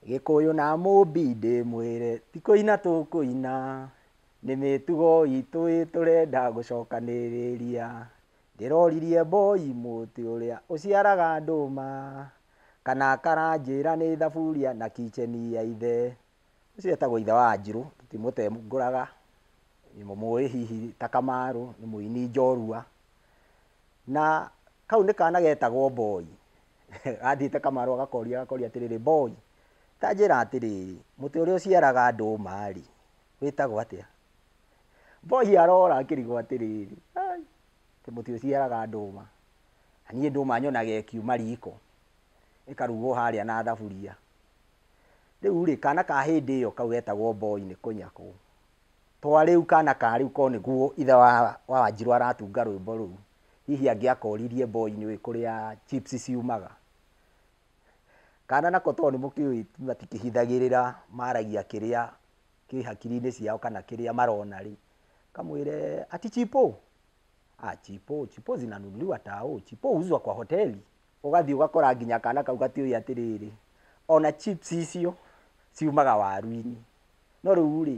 gĩkũyũ na mũmbi ndĩmwĩre ti kũina tũkũina nĩ mĩtugo itũ ĩ tũrenda gũcokanĩrĩria ndĩroririe mboi mũtĩ ũrĩa ũciaraga ndũma kana karanjĩra nĩ thaburia na kicheni ya ithe Ũcio etagwo ithe wa Wanjirũ, tũtimũtengũraga, mũmũĩ hihi ta Kamarũ, nĩ mũini njorua. Na kau nĩ kana getagwo Mboi, gathiĩte Kamarũ agakoria agakoria atĩrĩrĩ, Mboi, ta njĩra atĩrĩrĩ, mũtĩ ũrĩa ũciaraga ndũma-rĩ, wĩtagwo atĩa? Mboi arora akĩrigwo atĩrĩrĩ, ai, atĩ mũtĩ ũciaraga ndũma, na niĩ ndũma nyonaga ĩkiuma riko, ĩkarugwo harĩa na thaburia. Rĩu-rĩ, kaana ka hĩndĩ ĩyo kau getagwo Mboi nĩ kũnyakwo. To rĩu kaana ka rĩu korwo nĩguo ithe wa wa Wanjirũ aratunga rwĩmbo rũu, hihi angĩakoririe Mboi nĩũĩ kũrĩa chips ciumaga? Kaana nako to nĩmũkĩũĩ matikĩhithagĩrĩra, maragia kĩrĩa kĩ hakiri-inĩ ciao kana kĩrĩa marona-rĩ, kamwĩre, ati chipo? Ah, chipo, chipo zinanunuliwa tao, chipo huuzwa kwa hoteli. Ũgathiĩ ũgakora nginya kana kau gatiũĩ atĩrĩrĩ, ona chips icio ciumaga waru-inĩ. No rĩu rĩ,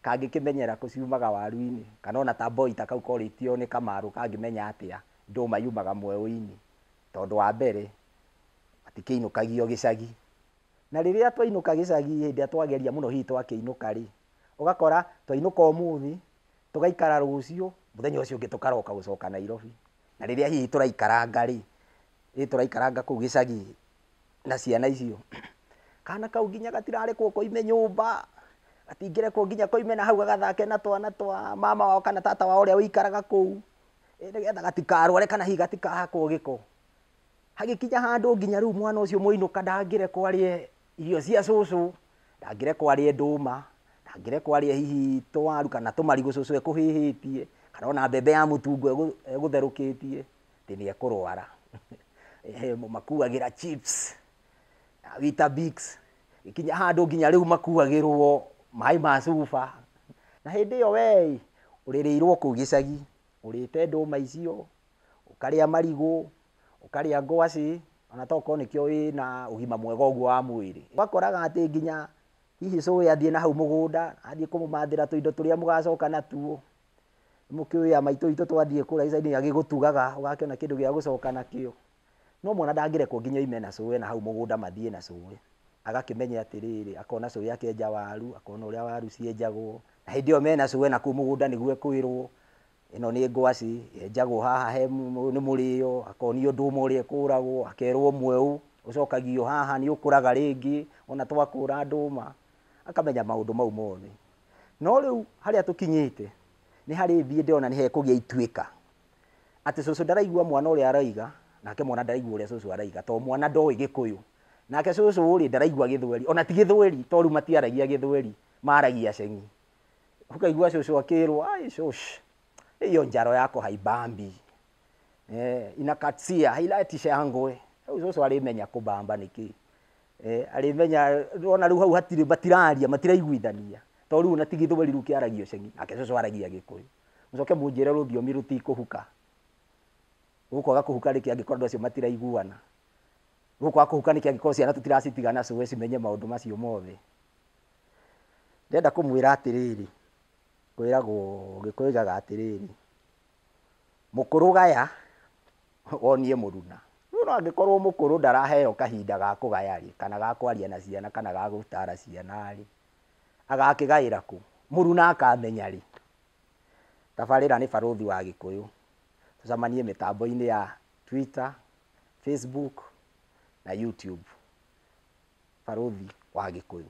kangĩkĩmenyera kũ ciumaga waru-inĩ? Kana ona ta boy ta kau korĩtio nĩ Kamarũ kangĩmenya atĩa ndũma yumaga mweũ-inĩ? Tondũ wa mbere, matikĩinũkagio gĩcagi. Na rĩrĩa twainũka gĩcagi hĩndĩ ĩrĩa twageria mũno hihi twakĩinũka rĩ, ũgakora twainũka ũmũthĩ, tũgaikara rũciũ, mũthenya ũcio ũngĩ tũkaroka gũcoka Nairobi. Na rĩrĩa hihi tũraikaranga rĩ, rĩrĩa tũraikaranga kũu gĩcagi na ciana icio, kana kau nginya gatirarekwo koime nyũmba, gatingĩrekwo nginya koime na hau gagathake na twana twa mama wao kana tata wao ũrĩa ũikaraga kũu, nĩgetha gatikarware kana hihi gatikahakwo gĩko. Hagĩkinya handũ nginya rĩu mwana ũcio mũinũka ndangĩrekwo arĩe Irio cia cũcũ, ndangĩrekwo arĩe ndũma, ndangĩrekwo arĩe hihi tũwaru kana tũmarigũ cũcũ ekũhĩhĩtie, kana ona mbembe ya mũtungo egũtherũkĩtie, atĩ nĩ ekũrwara. Mũmakuagĩra chips, na weetabix, gũkinya handũ nginya rĩu makuagĩrwo maĩ ma cuba. Na hĩndĩ ĩyo wee ĩ, ũrĩrĩirwo kũu gĩcagi, ũrĩte ndũma icio. ũkarĩa marigũ, ũkarĩa ngwacĩ, ona to gũkorwo nĩkĩo wĩ na ũgima mwega ũguo wa mwĩrĩ. Ũgakoraga atĩ nginya hihi cũĩ athiĩ na hau mũgũnda, athiĩ kũmũmathĩra tũindo tũrĩa mũgacoka natuo, nĩ mũkĩũĩ a maitũ witũ twathiĩ kũrĩa gĩcagi nĩ agĩgũtugaga, ũgakĩona kĩndũ gĩa gũcoka nakĩo. No mwana ndangĩrekwo nginya oime na cũĩ na hau mũgũnda mathiĩ na cũĩ. Agakĩmenya atĩrĩrĩ, akona cũĩ akĩenja waru, akona ũrĩa waru cienjagwo, na hĩndĩ ĩyo me na cũĩ na kũu mũgũnda nĩguo ekwĩrwo, ĩno nĩ ngwacĩ yenjagwo haha he nĩ mũrĩo, akonio ndũma ũrĩa ĩkũragwo, akerwo mweũ ũcokagio haha nĩ ũkũraga rĩngĩ, ona twakũra ndũma, akamenya maũndũ mau mothe. No rĩu harĩa tũkinyĩte, nĩ harĩ thiĩ ndĩrona nĩ hekũgĩa ituĩka, atĩ cũcũ ndaraigua mwana ũrĩa aroiga, nake mwana ndaraigua ũrĩa cũcũ aroiga, to mwana ndoĩ gĩkũyũ, nake cũcũ rĩ ndaraigua gĩthweri, ona ti gĩthweri, to rĩu matiaragia gĩthweri, maragia ceng'i. Ũkaigua cũcũ akĩrwo, ai cũcũ, hiyo njaro yako haibambi. Eh, inakatsia, hailatisha ya ngũĩ. Rĩu cũcũ arĩmenya kũbamba nĩkĩ. Eh, arĩmenya, ona rĩu hau hatirĩ, matiraria, matiraiguithania. To rĩu ona ti gĩthweri rĩu kĩaragio ceng'i, nake cũcũ aragia gĩkũyũ. Mũcoke mũnjĩre rũthiomi rũtikũhuka. Rũkwaga kũhuka nĩkĩ angĩkorwo andũ acio matiraiguana? Rũkwaga kũhuka nĩkĩ angĩkorwo ciana tũtiracitigana cũe cimenye maũndũ macio mothe? Ndĩrenda kũmwĩra atĩrĩrĩ, kwĩragwo, Gĩkũyũ kĩũgaga atĩrĩrĩ, mũkũrũ gaya, wonie mũruna. Rĩu ona angĩkorwo mũkũrũ ndaraheo kahinda ga kũgaya rĩ, kana ga kwaria na ciana kana ga gũtaara ciana rĩ, agakĩgaĩra kũ? Mũruna akamenya rĩ? Tabarĩra nĩ barũthi wa Gĩkũyũ. Tũcemanie mĩtambo-inĩ ya Twitter, Facebook na YouTube. Barũthi wa Gĩkũyũ.